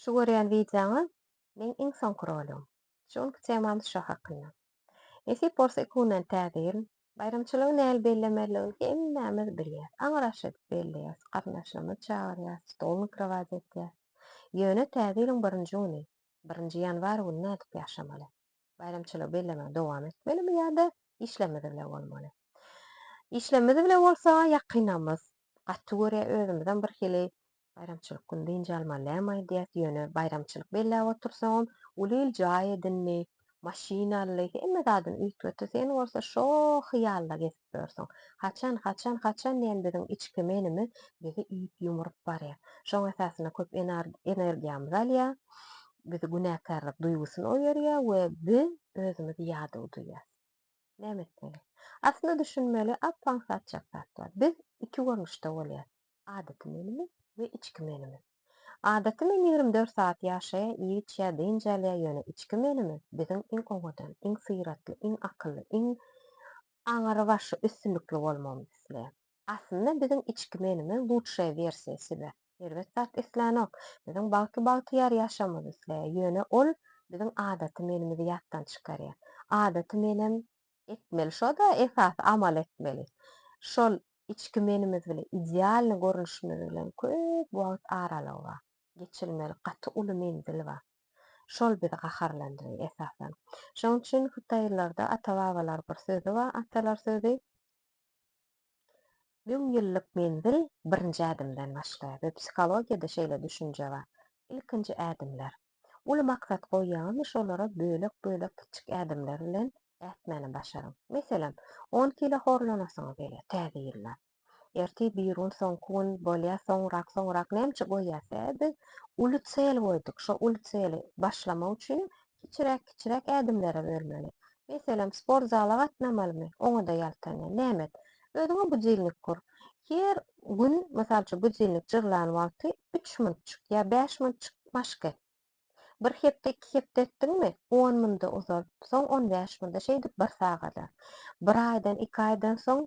Şu görýän wideoňy meň iň soňky roligim. Şu günki temamyz şo hakynda. Nesip bolsa iki günden täze ýyl. Baýramçylygy näl bellemeligini hemmämiz bilýäs. Aňyraş edip belleýäs, garyndaşlarymyzy çagyrýas, stol mikrowaýz etýäs. Ýöne täze ýylyň birinji güni, birinji ýanwar güni nädip ýaşamaly? Baýramçylygy bellemegi dowam etmelimi ýa-da işlerimiz bile bolmaly? Işlerimiz bile bolsa ýakynymyz gaty görýär, özümizem birhili Baýramçylyk güni dynç almalydam aýdýas, ýöne baýramçylyk belläp otursaňam, uly il jaý edindi, maşyn aldy, hemme zadyny üýtgetdi, sen bolsa şo hyýalda gezip ýörsüň. Haçan, haçan, haçan diýen biziň içki menimi bizi üýüp-ýumuryp barýar. Şoň esasynda köp energiýamyzy alýar, bizi günäkärlik duýgusyna oýarýar we biz özümizi ýadaw duýýas. Näme etmeli? Aslynda düşünmeli, ap-aňsat çak zat bar. Biz iki görnüşde bolýas. Adaty menimi we içki menimi. Adaty men ýigrimi dört sagat ýaşaýar, iýip-içýär, dynç alýar, ýöne içki menimi, biziň iň owadan, iň syratly, iň akylly, iň aňrybaşy, üstünlikli bolmagymyzy isleýär. Aslynda biziň içki menimiz lutşaýa wersiýa sibe, erbet zat islänok, biziň bagtly bagtyýar ýaşamyzy isleýär, ýöne ol biziň adaty menimizi ýatdan çykarýar. Adaty menem etmeli şoda esasy amal etmeli şol içki menimiz bile idealny görnüşimiz bilen köp wagt aralygy bar geçilmeli gaty uly menzil bar şol bizi gaharlandyry esasan şoň üçin hytaýlylarda ata babalar bir sözi bar atalar sözi Müň ýyllyk menzil birinji ädimden başlaýar we psihologiýada şeýle düşünje bar, ilkinji ädimler. Uly maksat goýýaňyzmy şolara bölek-bölek kiçik ädimler bilen ätmäni başaryň. Meselem, on kilo horlanasyňyz gelýär täze ýylda. Ertir, birigün, soňky gün, bolýa, soňrak, soňrak, näme üçin goýýar? Sebäbi biz uly çel goýduk. Şo uly çeli başlamak üçin Kiçiräk-kiçiräk ädimlere bölmeli. Meselem, sport zala gatnamalymy? Oňa-da ýaltanýan. Nämet, özüňe budilnik kur. Her gün, mysal üçin, budilnik jyrlan wagty üç minutjyk ýa bäş minutjyk maşk et. Bir hepde, iki hepde etdiňmi, on minda uzalt, soň on bäş minda, şeýdip bir sagada. Bir aýdan, iki aýdan soň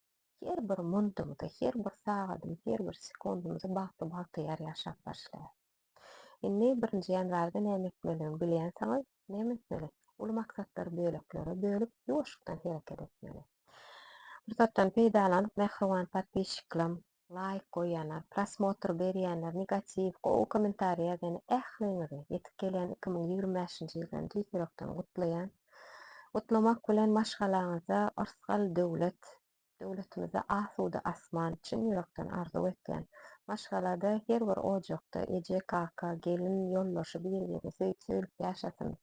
Her bir muntumyzy, her bir sagadymyzy, her bir sekundymyzy bagtly-bagtyýar ýaşap başlaýar. Indi birinji ýanwarda näme etmelidigini bilýänsiňiz. Näme etmeli? Uly maksatlary böleklere bölüp, ýuwaşykdan hereket etmeli. Pursatdan peýdalanyp, mähriban podpisçiklerim, Laýk goýýanlar, prosmotr berýänler, negatiw, gowy komentariý ýazýan ähliňizi ýetip gelýän iki müň ýigrimi bäşinji ýyldan tüýs ýürekden gutlaýan. Gutlamak bilen maşgalaňyza yrsgal döwlet, döwletimize asuda asman çyn ýürekden arzuw etýän. Maşgalada her bir ojakda eje, kaka, gelin, ýoldaşy bir-birini söýüp söýlüp ýaşasyn.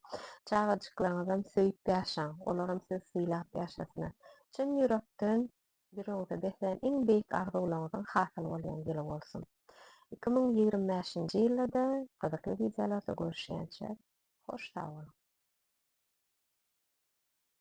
Çagajyklaňyzam söýüp ýaşaň, olaram sizi sylap ýaşasyna. Çyn ýürekden Ýüregiňize beslän iň beýik arzuwlaryňyzyň hasyly bolýan ýyly bolsun! Iki müň ýigrimi bäşinji ýylda-da gyzykly wideolarda görüşýänçä, hoş sag boluň!